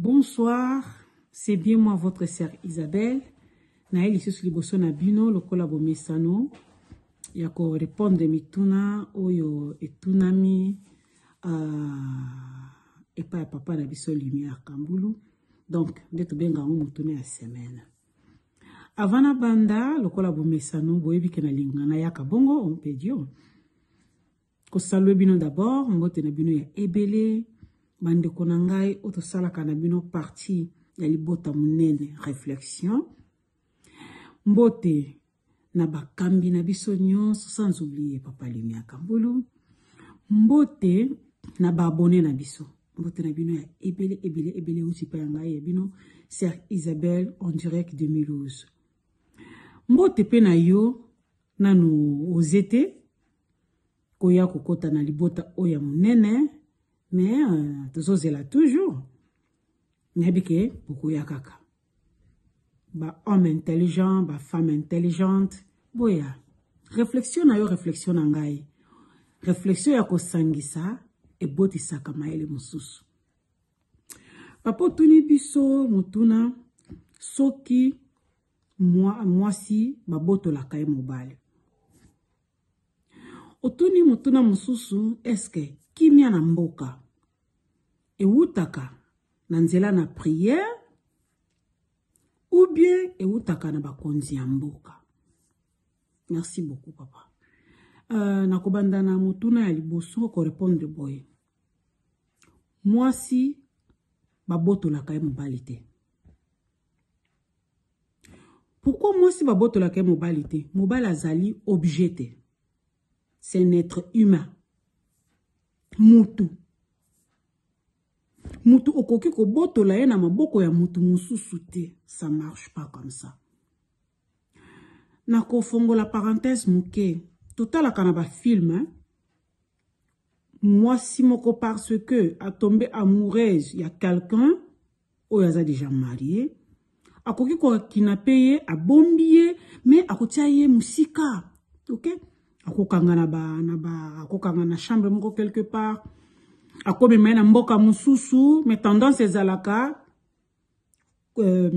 Bonsoir c'est bien moi votre sœur Isabelle naye lisusu liboso na bino lokola bomesano ya ko répondre mituna oyo etunami uh, epai ya papa na biso lumière kambulu donc nde tobenga yango motuna ya semaine avant na banda lokola bomesano boyebi ke na lingana yaka bongo ompedio kosalue bino d'abord mbote na bino ya ebele bandeko na ngai oyo tosalaka na bino parti ya libota monene réflexion mbote na bakambi na biso nyonso sans oublier papa limia kambulu mbote na baabone na biso mbote na bino ya ebele ebele ebele euti mpe ya ngai ya bino sir isabelle en direct de mulhouse mbote mpe na yo nanu oze te koya kokota na libota oyo ya monene me uh, tozozela toujours nayebi ke bokoya kaka bahomme intelligent bafemme intelligente boya réflexion na yo réflexion na ngai réflexion ya kosangisa ebotisaka mayele mosusu papa otuni biso motuna soki mwasi babotolaka ye mobali otuni motuna mosusu eske kimia na mboka ewutaka na nzela na priere ou bien ewutaka na bakonzi ya mboka merci beaucoup papa uh, nakobanda na motuna ya liboso korepondre boye mwasi babotolaka ye mobali te Pourquoi mwasi babotolaka ye mobali te? Mobali azali objet te. C'est un être humain. Mutu. Mutu okoki kobotola ye na maboko ya mutu mosusu te. Ça marche pas comme ça. Nakofongola parenthèse moke. Totalaka na ba film, hein? mwasi moko parce que a tombe amoureuse ya quelqu'un oyo aza déjà marie akoki kokinape ye abombi ye mais akotia ye mosika ok akokanga na ba na ba akokanga na chambre moko quelque part akomema ye na mboka mosusu mais tendance ezalaka euh,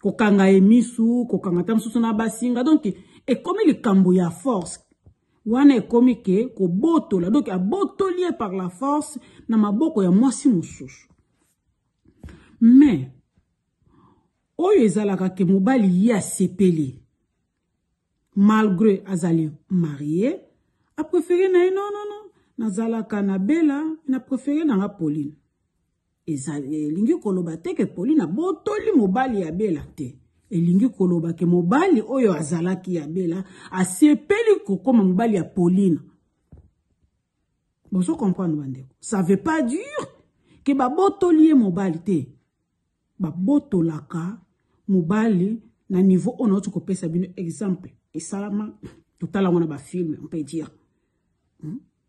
kokanga ye misu kokanga ata mosusu na basinga donc ekomi likambo ya force wana ekomi ke kobotola donc abotoli ye par la force na maboko ya mwasi mosusu mais oyo ezalaka ke mobali ye asepeli malgré azali marie apréféré na ye non non non nazalaka na bela na préféré na nga pauline elingi koloba te ke polina botoli mobali ya bela te elingi koloba ke mobali oyo azalaki ya bela asepeli kokoma mobali ya polina bozo comprendre bandeko ça veut pas dire ke babotoli ye mobali te babotolaka mobali na niveau oyo nauti kopesa bino exemple esalama totalango na bafilme on peut dire hmm?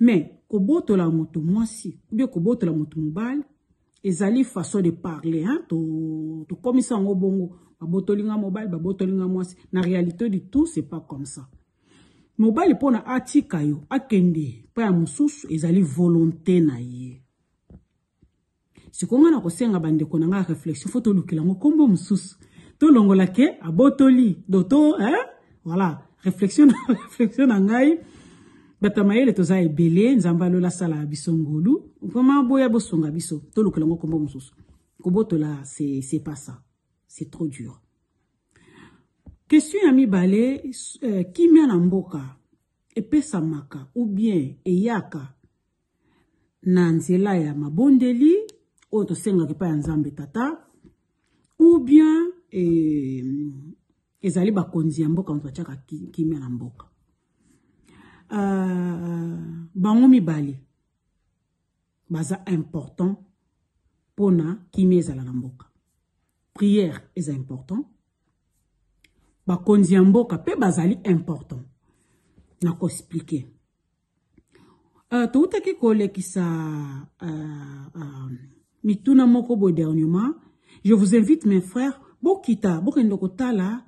mais kobotola moto mwasi ubie kobotola moto mobali ezali façon de parler hein? tokomisa to yango bongo babotoli nga mobali babotoli nga mwasi na réalité du tout c'est pas comme ça mobali mpo na atika yo akende mpo ya mosusu ezali volonté na ye sikoyo ngai nakosenga bandeko na ngai ya réflexion fo tolukela yango nkombo mosusu tolongola ke abotoli do to eh? voilà réflexion na réflexion na ngai bato ya mayele toza ebele nzambe alola asala biso ngolu vraimen boya bosunga biso tolukela yango nkombo mosusu kobotola c'est pas ça c'est trop dur question ya mibale euh, kimia na mboka epesamaka ou bien eyaka na nzela ya mabondeli oyo tosengaka epai ya nzambe tata ou bien eh, ezali bakonzi ya mboka moto batiaka kimia na mboka uh, bango mibale baza important mpo na kimia ezala na mboka prière eza important bakonzi ya mboka mpe bazali important na koexplike Uh, toutaki kolekisa uh, uh, mituna moko boye dernièrement je vous invite mes frères bokita bokende kotala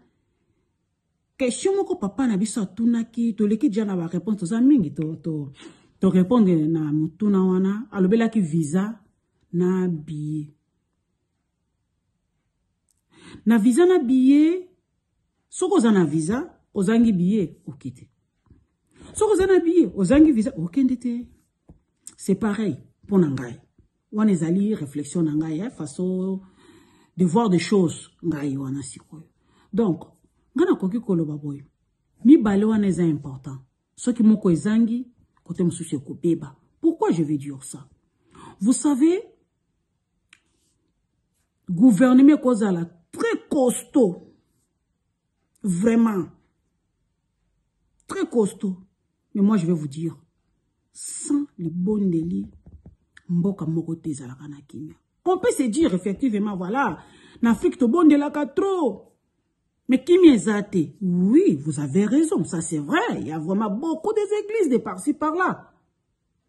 question moko papa na biso atunaki toleki deja na baréponse toza mingi torépondre to, to na motuna wana alobelaki visa na billet na visa na billet soki oza na visa ozangi billet oke te soki oza na billet ozangi visa okende te c'est pareil mpo na ngai wana ezali réflexion na ngai ya façon de voir des choses ngai wana sikoyo donc ngai nakoki koloba boye mibale wana eza important soki moko ezangi kote mosusu ekobeba pourquoi je vais dire ça vous savez gouvernement ekozala très costaud vraiment très costaud mais moi je vais vous dire sans libondeli mboka moko te ezalaka na kimia on peut se dire effectivement voilà na afrique tobondelaka trop mais kimia eza te oui vous avez raison ça c'est vrai il y a vraiment beaucoup des églises de par-ci par-là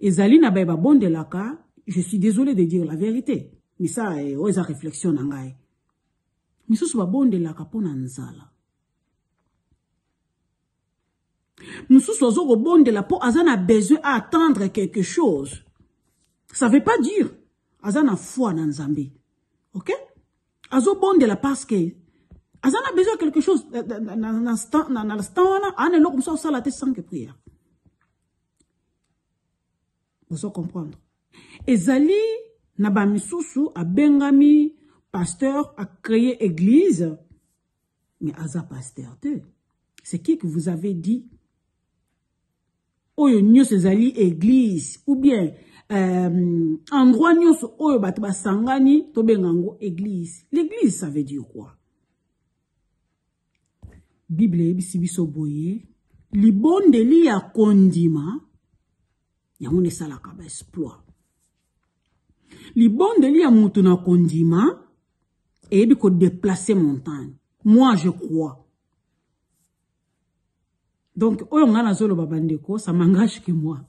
ezali na baye babondelaka je suis désolé de dire la vérité mais ça eh, oyo eza réflexion na ngai misusu babondelaka mpo na nzala mosusu azo kobondela mpo aza na besoin a attendre quelque chose ça veut pas dire aza na foi na nzambe ok azobondela parce que aza na besoin quelque chose na nstan wana ana eloko mosusu asala te sanke prière bozo comprendre ezali na bamisusu abengami pasteur acreye église mais aza pasteur te c'est qui que vous avez dit oyo nyonso ezali église ou bien euh, endroit nyonso oyo bato basangani tobenga yango église l'église ça veut dire quoi Biblia eyebisi biso boye libondeli ya kondima yango nde esalaka baesploit libondeli ya moto na kondima eyebi kodeplace montagne moi je crois Donc, oyo nga nazo loba bandeko, ça m'engage que moi.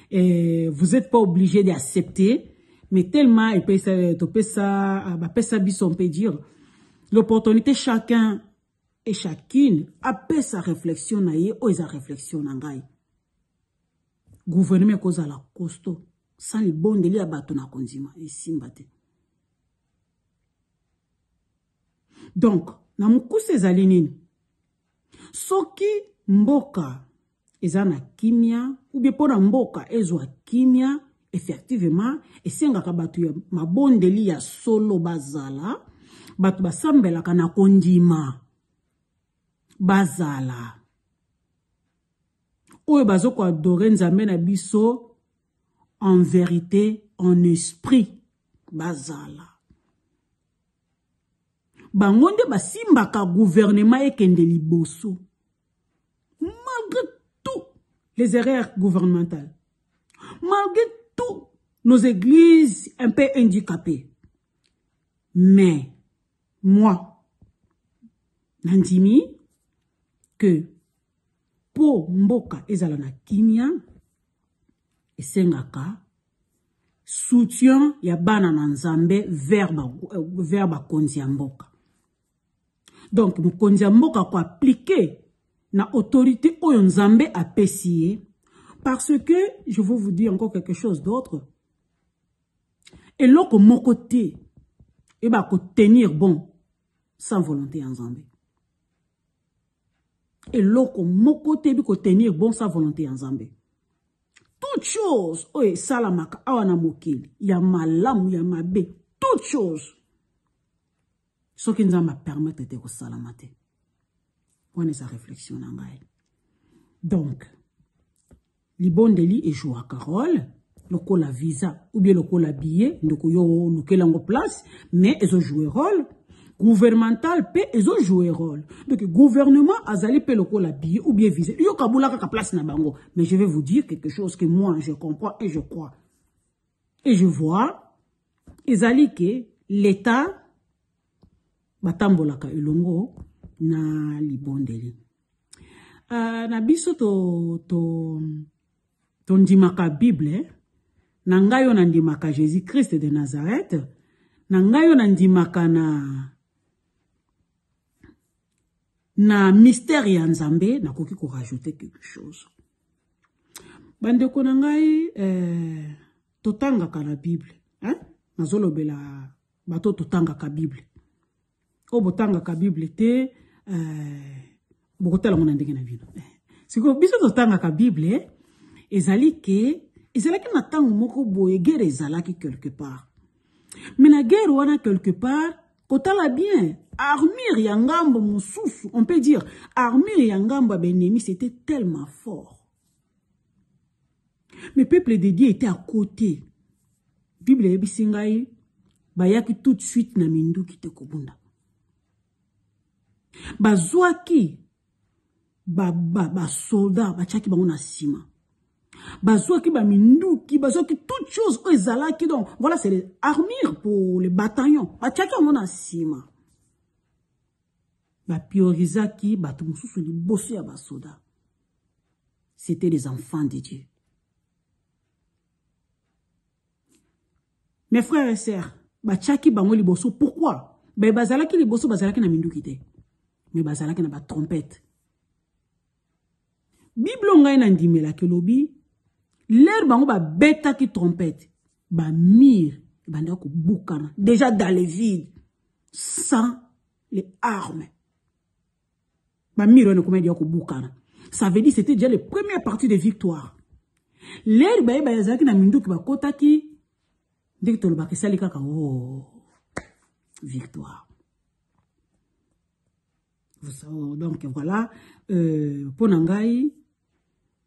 Et vous n'êtes pas obligé d'accepter, mais tellement et puis ça, ça, bah, ça, on peut dire, l'opportunité chacun et chacune après sa réflexion na ye oyo eza réflexion na ngai gouvernement ekozala costaud sans libondeli ya bato na kondima esimba te donc na mokuse ezali nini soki mboka eza na kimia ubie mpo na mboka ezwa kimia effectivement esengaka bato ya mabondeli ya solo bazala bato basambelaka na kondima bazala oyo bazokoadore nzambe na biso en verite, en esprit, bazala. bango nde basimbaka guvernema ekende liboso malgré tout les erreurs gouvernementales malgré tout nos églises un peu handicapées mais moi nandimi que mpo mboka ezala na kimia esengaka soutien ya bana na nzambe vers euh, bakonzi ya mboka donc mokonzi ya mboka koaplike na autorité oyo nzambe apesi ye parce que je veux vous dire encore quelque chose d'autre eloko moko te eba kotenir bon sans volonté ya nzambe eloko moko te eyebi kotenir bon sa volonté ya nzambe toute chose oyo esalamaka awa na mokili ya malamu ya mabe toute chose soki nzambe apermetre te kosalama te wana eza réflexion na ngai donc libondeli ejouaka role lokola visa ou bien lokola billet ndeko yo olukela yango place mais ezojoue role gouvernemental mpe ezojoue role donc gouvernement azali mpe lokola billet ou bien visa yo kabula kaka place na bango mais je vais vous dire quelque chose que moi je comprends et je crois et je vois ezali ke l'état batambolaka elongo na libondeli uh, na biso to, to, tondimaka bible eh? na ngai oyo nandimaka jésus christ de nazareth na ngai oyo nandimaka na na mystère ya nzambe nakoki korajoute quelque chose bandeko na ngai eh, totangaka na bible eh? nazolobela bato totangaka bible oyo botangaka bible te euh, bokotala ngo na ndenge na bino eh, sikoyo biso totangaka bible eh, ezali ke ezalaki na ntango moko boye guerre ezalaki quelque part mais na guerre wana quelque part kotala bien armure ya ngambo mosusu on peut dire armure ya ngambo ya baennemi c'était tellement fort mais peuple de dieu était à côté bible eyebisi ngai bayaki tout de suite na minduki te kobunda bazwaki basoda ba, ba batyaki bango na nsima bazwaki baminduki bazwaki toute chose oyo ezalaki donc voilà c'est les armures pour les bataillons batyaki yango na nsima bapriorisaki bato mosusu liboso ya basoda C'était les enfants de Dieu. Mes frères et sœurs, bachaki bango liboso. Pourquoi? Ben bazalaki liboso bazalaki na minduki te. Mais bazalaki na ba trompette. Bible ngai na ndimela ke lobi l'heure bango ba betaki trompette ba mire banda ko bukana déjà dans les villes sans les armes Ba miro wana ekoma deja kobukana. Ça veut dire c'était déjà le premier parti de victoire. Leri baye bayazaki na minduki bakotaki ndenge tolobaka esali kaka o oh, victoire. Oh, donc voilà euh, mpo na ngai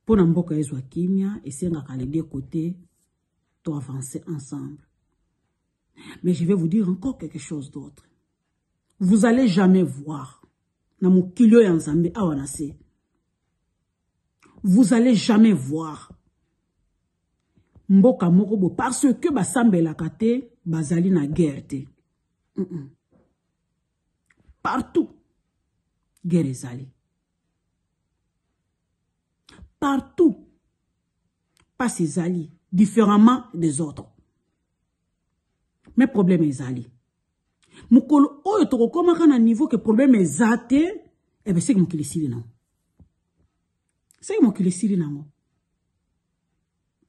mpo na mboka ezwa kimia esengaka les deux côtés to avancer ensemble mais je vais vous dire encore quelque chose d'autre vous allez jamais voir na mokili oyo ya nzambe awa na se vous allez jamais voir mboka moko bo parce que basambelaka te bazali na guerre te mm -mm. partout guerre ezali partout mpasi ezali différemment des autres mais problème ezali mokolo oyo tokokomaka na niveau ke problème eza te ebe eh seki mokili esili nango seki mokili esili nango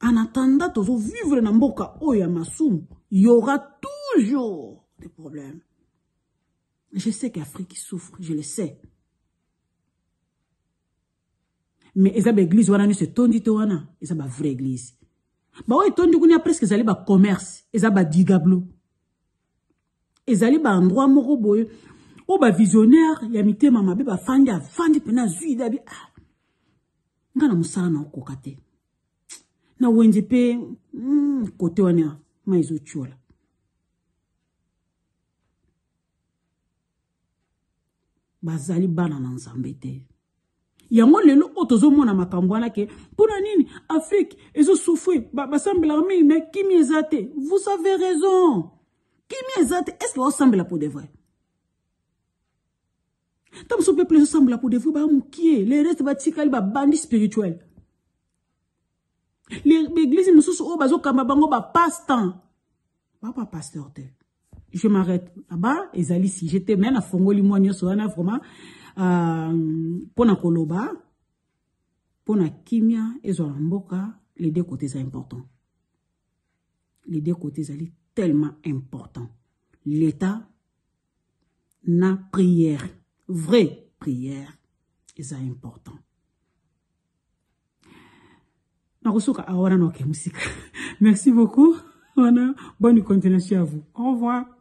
en attendant tozovivre na mboka oyo ya masumu yaura toujours des problèmes je sais qu'afrique souffre je le sais mais eza ba église wana nyonso etondi te wana eza ba vraie église baoyo etondi kuna presque ezali ba commerce eza ba digablo ezali ba endroit moko boye oyo ba visionnaire ya mitema mabe bafandi afandi mpena azwi ide abi ah, nga na mosala na okoka te na wenze mpe mm, kote wana mai ezotyola bazali bana na nzambe te yango lelo oyo tozomona makambo wana ke mpo na nini afrike ezosufrir basambelaka mingi me kimi eza te vous avez raison kimi eza te estce baosambela mpo de vrai ntango mosusu peuple ezosambela mpo de vrai baya mokie le reste batikali babandi spirituel baeglise mosusu oyo bazokamba bango bapasse temps baba pasteur te je m'arrête aba ezali sujet te mai nafongoli mwa nyonso wana vraiment euh, mpo na koloba mpo na kimia ezwa na mboka les deux côtés eza important les deux côtés ezali tellement important l'état na prière vraie prière eza important nakosuka awa wana naoke mosika merci beaucoup wana bonne continuation ya vous au revoir